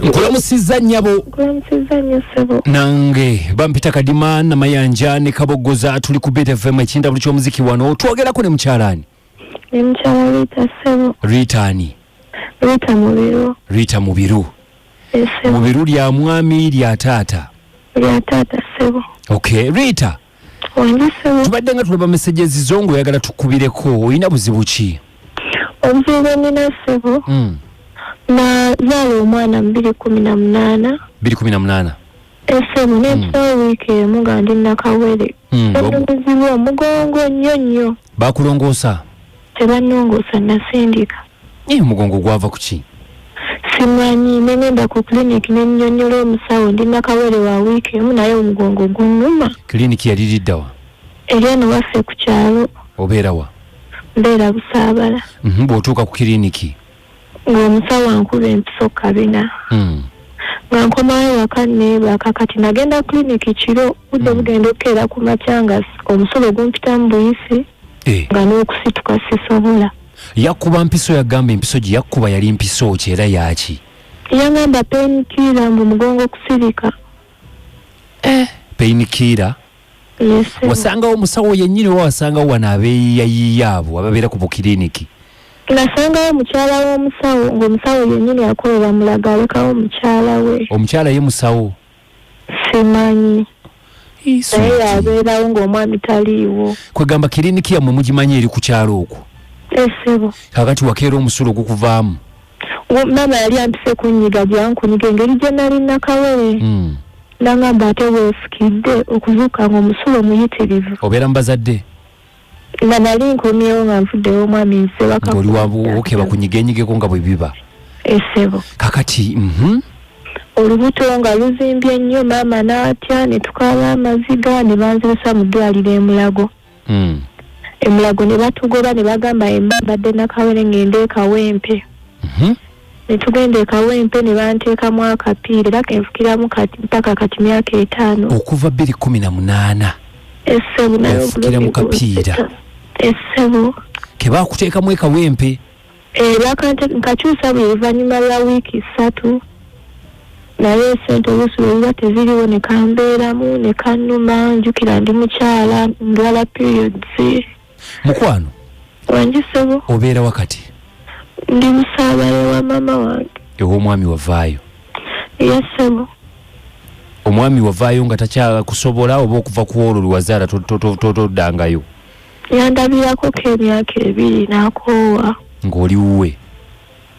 nkulamusizza nnyabo nkulamusizza nnyo ssebo nange bampita kadima namayanja ne kabogoza tuli ku btfm ekindabulu ky'omuziki wano twogerako ne mukyalaani ne mukyala rita ssebo rita ani rita mubiru rita mubiru mubiru lya mwami lya taata lya taata ssebo okay rita tubadde nga tulaba messages zo ngaoyagala tukubireko olina buzibu ki obuzibu bwenina ssebo hmm. nazaala omwana mu biri kumi na munaana biri kumi na munaana esemu hmm. nekisawo wiiki emu nga ndi nakawere hmm, omuzibu omugongo nnyo nnyo bakulongoosa tebanongoosa nasindika Naye omugongo gwava ku ki? Simanyi, ne ngenda ku clinic ne nnyonnyola omusawo ndi nakawere wa wiiki emu naye omugongo gunnuma. Clinic yali lidda wa? Eri eno waffe ku kyalo. Obeera wa? Mbeera Busaabala. Mhm, bw'otuuka ku clinic? Ng'omusawo ankuba empiso kabina. Hmm. Nga nkomawo ewaka neebaka kati nagenda clinic kiro budde hmm. bugenda okukeera ku makya nga omusulo gumpitamu buyisi eh. nga n'okusituka sisobola. yakuba mpiso yagamba empiso gye yakuba yali mpiso ki era yaki yagamba penikiira mbu mugongo kusirika eh, penikiira wasangawo omusawo yennyini oba wasangawo wano abeeyiyayiya abo ababeera ku bukiriniki nasangawo mukyala w'omusawo ng'omusawo yennyini akolera mulaga alekawo mukyala we omukyala ye musawo simanyi naye yabeerawo ng'omwami taliiwo kwegamba kiriniki yammwe mugimanyi eri ku kyalo okwo esebo eh, kakati wakeera omusulo ogukuvaamu maama yali ampise kunyiga gyankunyiga engeri gye nali nakawere hmm. nangamba ate weefukidde okuzuuka nga omusulo muyitirivu obeera mu bazadde nga nali nkomyewo nga nvuddewo omwami nsebaka oli wabuwoke bakunyigenyigeko nga bwe biba esebo kakati mhm. olubuto nga luzimbye nnyo maama n'atya ne tukaaba amaziga ne banzirisa mu ddwaliro emulago hmm. emulago ne batugoba ne bagamba embabadde nakawere ng'ende ekawempe mhm. ne tugenda e Kawempe ne banteekamu akapiira era ke nfukiramu kati mpaka kati myaka etaano. Okuva bbiri kkumi na munaana ofukira mu kapiira ke baakuteekamu e Kawempe. Eh, nkakyusa buli luvannyuma lwa wiiki ssatu naye esente oluusi lwe ziba teziriwo ne kambeeramu ne kannuma njukira ndi mukyala ndwala periods mukwano wangi sebo obeera wakati ndi musaabale wa maama wange ew'omwami wavaayo ye sebo omwami wavaayo nga takyakusobola oba okuva ku olwo lwewazaala toddangayo yandabirako ko emyaka ebiri nakoowa ng'oli wuwe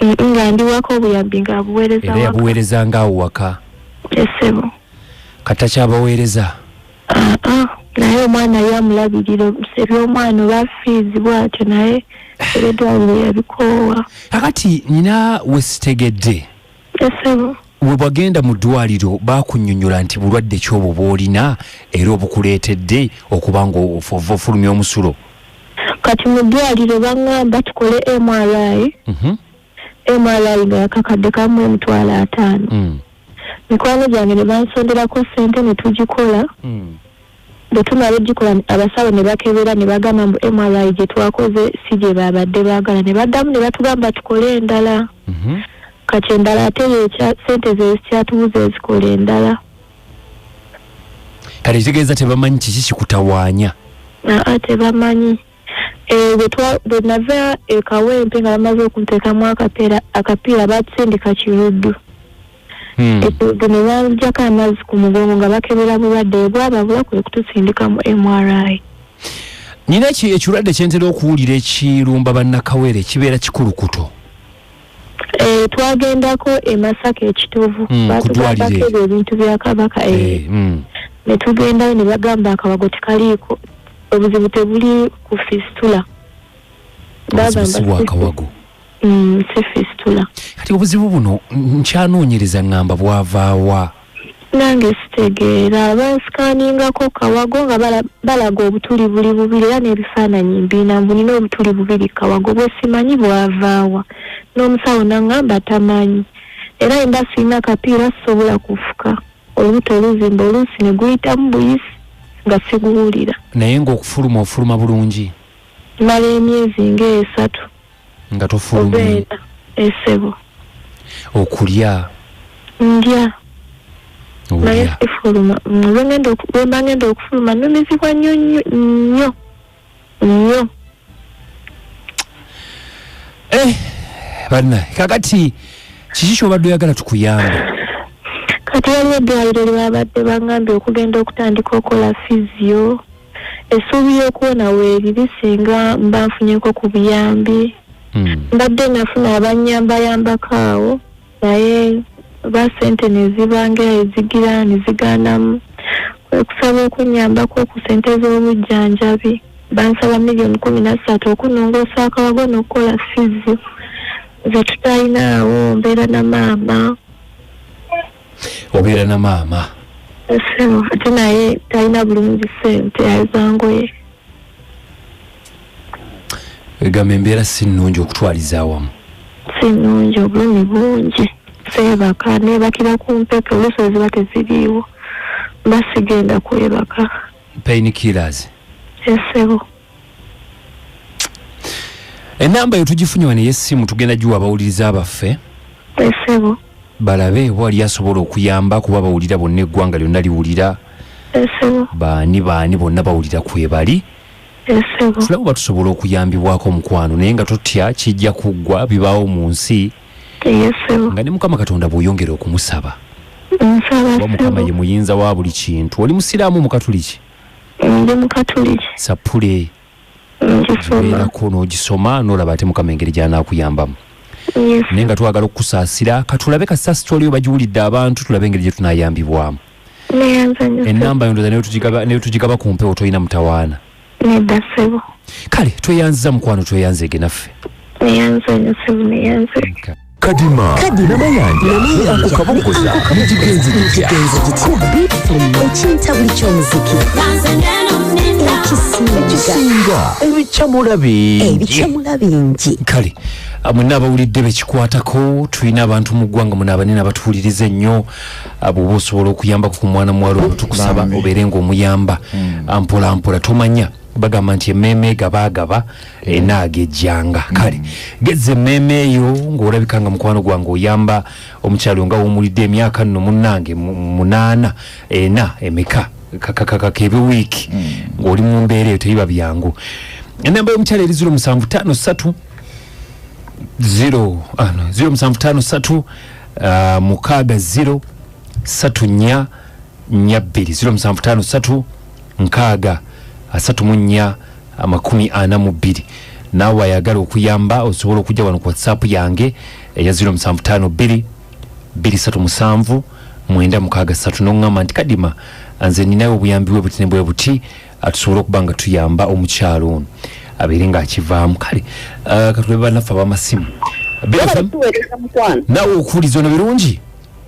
nga ndiwako obuyambi nga abuweereza era yabuweerezanga awo waka esebo kati takyabaweereza aa naye omwana ye amulabirira omuseri omwana oba fiizi bwatyo naye ebedwaliro yabikoowa kakati nyina wesitegedde esebo webwagenda mu ddwaliro bakunyonyola nti bulwadde ki obwo bwolina era obukuleetedde okuba nga ofova ofulumya omusulo kati mu ddwaliro baŋŋamba tukole mri Mhm. mri nga yakakadde kamu emitwalo ataano hmm. mikwano gyange ne bansonderako ssente ne tugikola hmm. bwe tumala ogikola abasawo ne bakebera ne bagamba mbu mri gye twakoze si gye baabadde baagala ne baddamu ne batugamba tukole endala mhm. kati endala ate yekya ssente zezikyatubuza ezikola endala kati kitegeeza tebamanyi kiki kikutawaanya aa tebamanyi Eh, bwe nava e kawempe nga bamaze okunteekamu akapiira baatusindika kiruddu hmm. ekiruddu ne banjako amazzi ku mugongo nga bakebera bulwadde bwababula kwe kutusindika mu mri nina ekirwadde kyentera okuwulira ekirumba bannakawere kibeera kikulukuto Eh, twagendako e masaka ekitovu mm, batugambako ebyo ebintu bya kabaka eh, eh, mm. ne tugendayo ne bagamba akabago tekaliiko obuzibu tebuli ku fistula bagambawakawago mm, si fistula kati obuzibu buno nkyanoonyereza ngamba bwavaawa Nange sitegeera bansikaningako kawago nga balaga obutuli buli bubiri era n'ebifaananyi mbiina mbu nina obutuli bubiri kawago bwesimanyi bwavaawa n'omusawo nangamba tamanyi era emba sirina kapiira sisobola kufuka olubuto oluzimba oluusi ne guyitamu buyisi nga siguwulira naye ng'okufuluma ofuluma bulungi mala emyezi ng'esatu nga tofulumira esebo eh, okulya ndya naye sifuluma bwemba ngenda okufuluma numizibwa nnyo nnyo nnyo nnyo eh, banna kakati kiki kyobadde oyagala tukuyambe kati waliwo eddwaliro lyebabadde bangambye okugenda okutandika okola fizio essuubi y'okuwona weeriri singa mba nfunyeko ku buyambi hmm. mbadde nafuna abanyambayambako awo naye ba sente nezibanga ezigira neziganamu kwekusaba okunyambako ku sente z'obujjanjabi bansaba miliyoni kumi na ssatu okunongoosa akawago n'okukola fizi zetutalina awo mbeera na maama obeera na maama sebo ate naye talina bulungi sente yazangoye egamba embeera si nnungi okutwaliza awamu si nnungi obulumi bungi seebaka nebakira ku mpeke oluusi eziba teziriiwo basigenda kwebaka pain killers esebo enamba eyo tugifunye wano ey'essimu tugenda giwa abawuliriza baffe esebo balabe wali asobola okuyamba kuba bawulira bonna eggwanga lyonna liwulira esebo baani baani bonna bawulira kwebali esebo tulaba oba tusobola okuyambibwako omukwano naye nga totya kijja kuggwa bibaawo mu nsi eyesebo nga ne mukama katonda bw'oyongera okumusaba nsaba kuba mukama sebo ye muyinza wa buli kintu oli musiraamu mukatuliki ndi mukatuliki sapule ngisomaerako n'ogisoma n'olaba ate mukama engeri gyanaakuyambamu naye nga twagala okukusaasira katulabe kasita sitwaliyo bagiwulidde abantu tulabe engeri gye tunayambibwamu enamba yondoza naye tugigaba ku mpewo tolina mutawaana kale tweyanziza mukwano tweyanzeege naffe kadima namayanja ne ako kabogoza ne kigenzi kitya ku bfm ekinta buli ky'omuziki ekisinga ebicamula bingi ebicamula bingi kale ah, mwenna abawulidde bekikwatako tulina abantu mu ggwanga muno abanene abatuwuliriza ennyo ah, bwoba osobola okuyambako ku mwana muwala ono tukusaba obeere ngaomuyamba mpolampola tomanya bagamba nti emmeeme egabaagaba eh. enaaga ejjanga mm. kale gezza emmeeme eyo ng'olabika nga mukwano gwange oyamba omukyalo nga wumulidde emyaka nno munnange munaana ena emeka kakakakakebe wiiki mm. ng'oli mu mbeera eyo teyiba byangu enamba y'omukyalo eri ziro musanvu tano satu ziro ah, ziro musanvu tano satu ah, mukaaga ziro satu nya nya bbiri ziro musanvu tano satu nkaaga asatu mu nnya amakumi ana mu bbiri naawe ayagala okuyamba osobola okujja wano ku whatsapp yange eya 0752 237 mwenda mukaaga satu noŋŋamba nti kadima nze ninayo obuyambi bwe buti ne bwe buti atusobola okuba nga tuyamba omukyalo ono abeere ng'akivaamu kale uh, katulebe banaffe abamasimu nawe okuwuliza ono birungi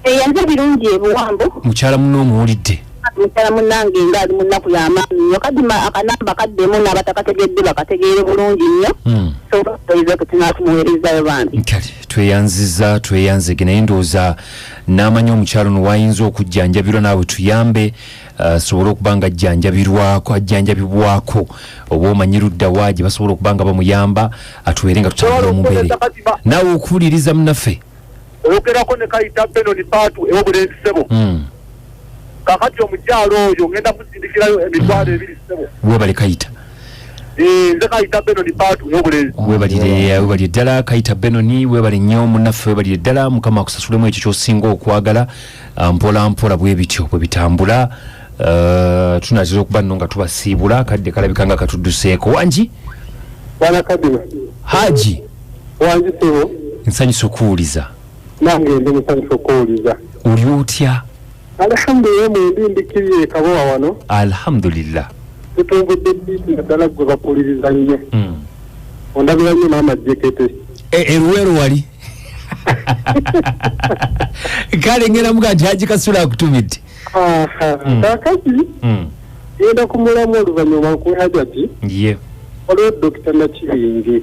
eyanze eh, birungi ebuwambo mukyala munno omuwulidde mukyala munnange nga ali munnaku yamaanyi nyo kadima akanamba kaddemu n'abatakategedde bakategeere bulungi nnyo hmm. soize kutinakumuwerezayo bambi kale tweyanziza tweyanzege naye ndowooza n'amanyi omukyalo no wayinza okujjanjabirwa naawe tuyambe asobole uh, okuba nga ajjanjabirwako ajjanjabibwako oba omanyi ludda wa gye basobola okuba nga bamuyamba atuwere nga tutambula omubeere naawe okuwuliriza munaffe oyogerako ne kayita benoni paatu ewo bulenzi sebo hmm. kakati omukyalo oyo ngenda kusindikirayo emitwalo ebiri sebo webali kayita eh, nze kayita benoni paatu ewo bulenzi webalire webalire ddala kayita benoni webali nnyo munaffe webalire ddala mukama akusasulemu ekyo kyosinga okwagala ah, mpola mpola bwe bityo bwe bitambula ah, tunatera okuba nno nga tubasiibula kadde kalabika nga katudduseeko wangi haji wanjisebo nsanyusa okuwuliza nange ndi musanyusa okuwuliza oli otya alhamdulillah mwendi ndikiriye ekabowa wano alhamdulillah tutumbudde biiti naddala gwe bapuliriza nnyo hmm. ondabira nnyo maama jekete eruweero e, wali kale ngenda muga nti haji kasula akutumidde hmm. kakati hmm. ngenda kumulamu oluvanyuma nkuwe hajati olwo dokita nakibingi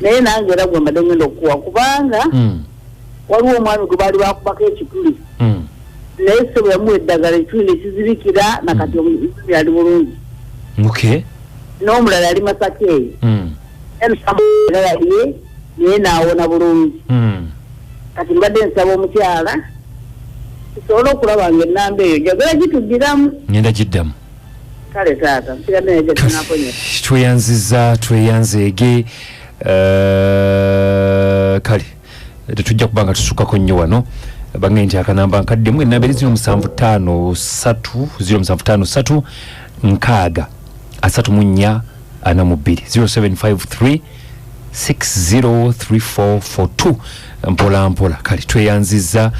naye nange era gwe mbadde ngenda okukuwa kubanga mm. waliwo omwami gwe baali bakubako ekituli mm. naye sebo yamuwa eddagala ekituli nekizibikira nakati mm. omuzimi ali bulungi n'omulala ali masaka eyo era yaliye naye naawona bulungi kati mbadde nsaba omukyala tusobole okulaba nga ennamba eyo njagala gituddiramu ngenda giddamu kale taata nsira naye gye tunakonye tweyanziza tweyanzeege eh, kale tetujja kuba nga tusukako nnyo wano bange nti akanamba nkaddemu enamberi ziro musanvu taano satu ziro musanvu taano satu nkaaga asatu mu nnya ana mu bbiri 0753 603442 mpola mpola kale tweyanziza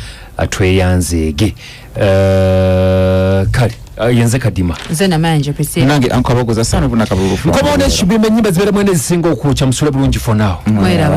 tweyanzeege Eh, kale ah, yenze kadima nze namanja priscilla nange ankabagoza sana bunakabulufu nkobaona ekibiima enyimba zibeera mwene ezisinga okwokya musule bulungi for now mweraba